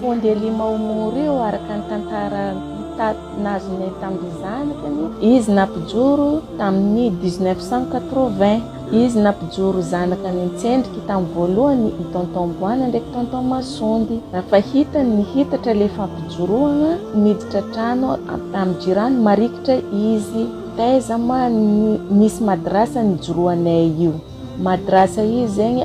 Pont de Lima ao Moro io araka ny tantara nahazoanay tamin'ny zanakany, izy nampijoro tamin'ny dix neuf cent quatre vingt, izy nampijoro zanaka nitsendriky tamin'ny voalohany i Tonton Boana ndraiky Tonton Masondy, fa hitany nihitatra ilay fampijoroana, niditra trano tamin'ny jirany marikitra izy, taiza ma ny nisy madrasa nijoroanay io, madrasa izy zegny.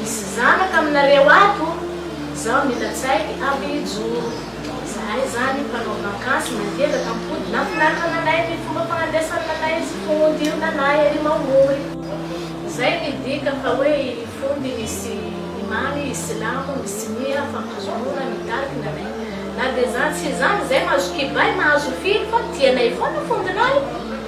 Misy zanaka aminareo ato zao mila tsay aby hijoro. Zahay zany mpanao vakansy matanjaka mipody nafinaritra nanay ny fomba fagnandesan nanay sy fondio nanay ery mamory. Zay ny dika fa hoe i fondy misy imany i silamo misy miha fampizoroana ny tariki nanay. Na de zany sy zany zay mahazo kibay mahazo firy fa tianay foana fondinay.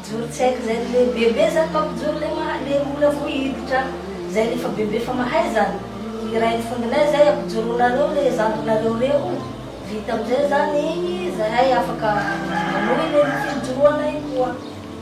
Mijoro tsy haiko zay le bebe zany mampijoro le maha le mbola vo hiditra zay le fa bebe fa mahay zany iray ny fondinay zay ampijoronareo le zandrinareo reo vita amizay zany igny zahay afaka manohy le fijoroanay koa.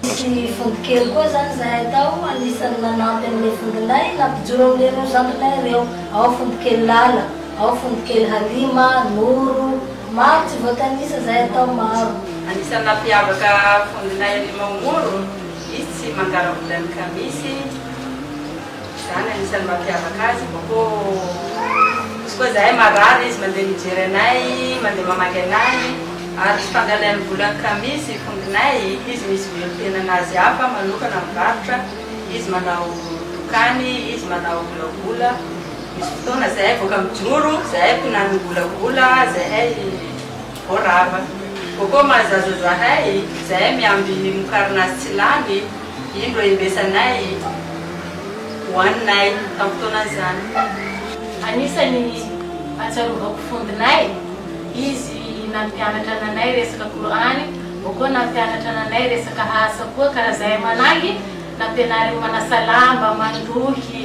Nisy vondro kely koa zany zahay tao anisany nanampy anle vondronay nampijoro amle reo zandrinay reo ao vondro kely lala. Ao Fontokely Halima, Noro, maro tsy voatanisa zay atao maro. Anisan'ny nampiavaka vondronay Halima ao Noro, izy tsy mangara-bola ny kamisy, zany anisan'ny mampiavaka azy, misy koa zahay marary izy mandeha mijery anay, mandeha mamaky anay, ary tsy fangalain'ny vola ny kamisy vondronay, izy misy velon-tenan'azy hafa manokana mivarotra, izy manao dokany, izy manao volavola, Misy fotoana zahay voaka mijoro, zahay mpinany mivolabola, zahay voarava. Coco mahazaza zahay, zahay miamby ny mokarina azy tsy lany, indro embesanay, hoaninay tam fotoana zany. Anisany atsiarovako fondinay, izy nampianatra nanay resaka Kor'any, Coco nampianatra nanay resaka asa koa ka raha zahay manahy, nampianariny manasa lamba, mandrohy,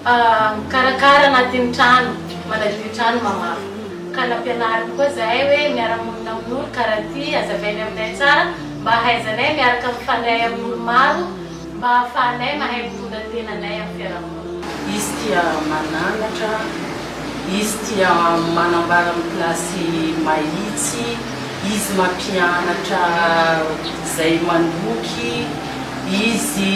Mikarakara anatin'ny trano, manadio ny trano mamafa. Ka nampianariny koa zahay hoe miara-monina amin'olo karaha ty, hazavainy aminay tsara mba hahaizanay miaraka mifandray amin'olo maro mba ahafahanay mahay mitondra ny tenanay amin'ny fiarahamonina. Izy tia mananatra, izy tia manambara amin'ny kilasy mahitsy, izy mampianatra izay mandroky, izy.